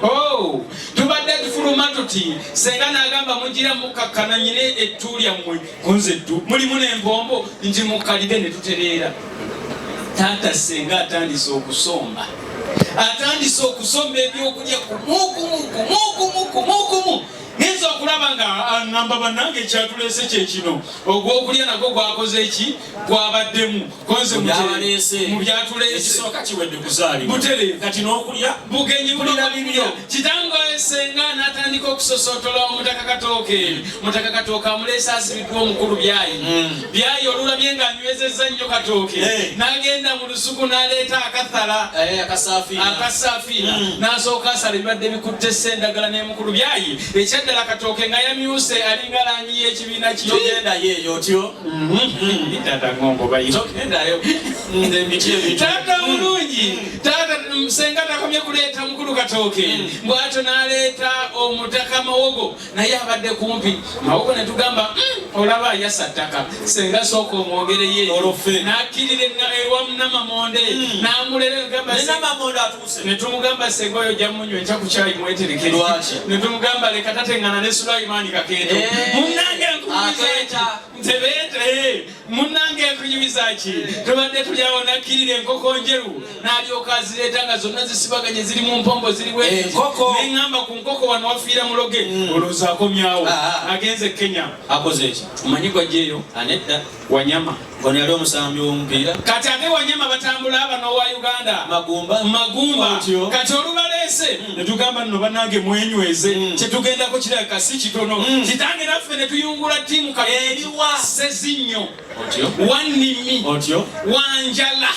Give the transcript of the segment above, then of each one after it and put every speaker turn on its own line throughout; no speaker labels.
Oh, tubadde tufuluma tuti senga nagamba mugira mukakkana nyina ettu lyammwe kunze ddu mulimu n'empombo nti mukalire ne tutereera taata senga atandise okusomba atandise okusomba ebyokulya kumukumukumukumukumukumu ninza okulaba nga aŋamba ah, bannange ekyatuleese kyekino ogwokulya nagwo gwakoze ki kwabaddemu konze mu byatuleese ekisooka kiwedde kuzaalibwa butere kati n'okulya bugenyi bulira bibyo kitango esenga n'atandika okusosootola omutaka katooke mutaka katooke amuleese asibiddwa omukulu byayi hmm. byayi olulabye nga anywezezza nnyo katooke eh. n'agenda mu lusuku n'aleeta akathala eh, akasafiina hmm. n'asooka asala ebibadde bikutte ssa endagala n'emukulu byayi ekyaddala katooke nga yamyuse alinga langi y'ekibiina kiyogenda yeeyo otyo Mm-hmm. Tata ng'ombo bayinza okugendayo nze miti ebi tata mulungi tata senga takomye kuleeta mukulu katooke mm. bwatyo n'aleeta omutaka mawogo naye abadde kumpi mawogo ne tugamba mm, olaba yasa ttaka senga sooka omwogereye n'akkirira ewamunamamonde mm. n'amulera netumugamba senga oyo ojja munywa enkya ku kyayi mweterekere netumugamba leka tatengana ne sulaimaani kakeeto eh. munange nkumizaeki ntebeete eh. munange nkunyumiza ki tubadde tuli awo nakkirira enkoko njeru nalyoka azireeta nga zonna zisibaganye ziri mu mpombo ziri wenkoko eh, neŋamba ku nkoko wano wafiira muloge mm. olowooza akomyawo ah, ah. agenze kenya akoze eki omanyi gwajjeeyo anedda Wanyama ono yali omusambi w'omupiira kati ate Wanyama batambula aba n'owa Uganda Magumba Magumba kati olubaleese hmm. ne tugamba nno bannange mwenyweze hmm. kye tugendako kirabika si kitono hmm. kitange naffe ne tuyungula ttiimu kaeriwa sezinnyo wannimi otyo wanjala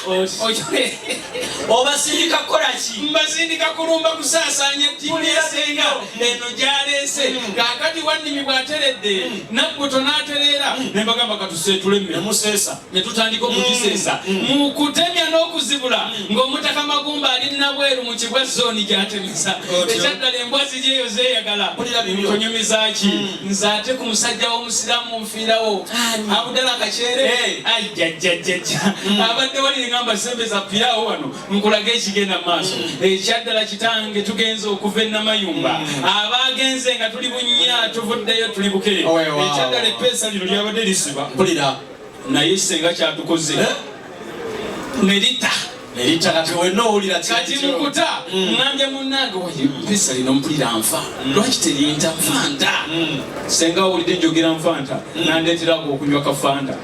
obasindika kukola ki mbasindika kulumba kusaasaanya ttiimu yasenga eno gyaleese kaakati wannimi bw'ateredde nabbuto n'atereera ne mbagamba katuseetule mmemuseesa ne tutandika okugiseesa mm, mm. mu kutemya n'okuzibula mm. ng'omutaka magumba ali nabweru mu kibwa zooni gy'atemesa ekyaddala embwa ziri eyo zeeyagala kunyumizaaki nze ate ku musajja w'omusiraamu nfiirawo abudala kakyere ajjajjajjajja abadde wali ngamba sembe za pirawo wano nkulage ekigenda mu maaso mm. ekyaddala kitange tugenze okuva enamayumba mm. abaagenze nga tuli bunya tuvuddeyo tuli buke ekyaddala epeesa lino lyabadde lisiba mpulira naye kisenga kyatukoze eh? nerita kati mukuta mm. ngambye munange pesa lino mpulira nfa lwaki terinta fanta senga owulidde njogera nfanta nandeeteraku okunywa kafanta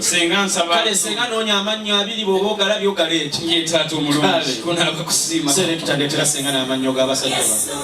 Senga nsaba. Kale senga nonya amannyo abiri bwoba ogalabye ogaleete. Ye taata omulungi. Kale. Kunaaba kusiima. Selector ndeetera senga n'amannyo g'abasajja bano.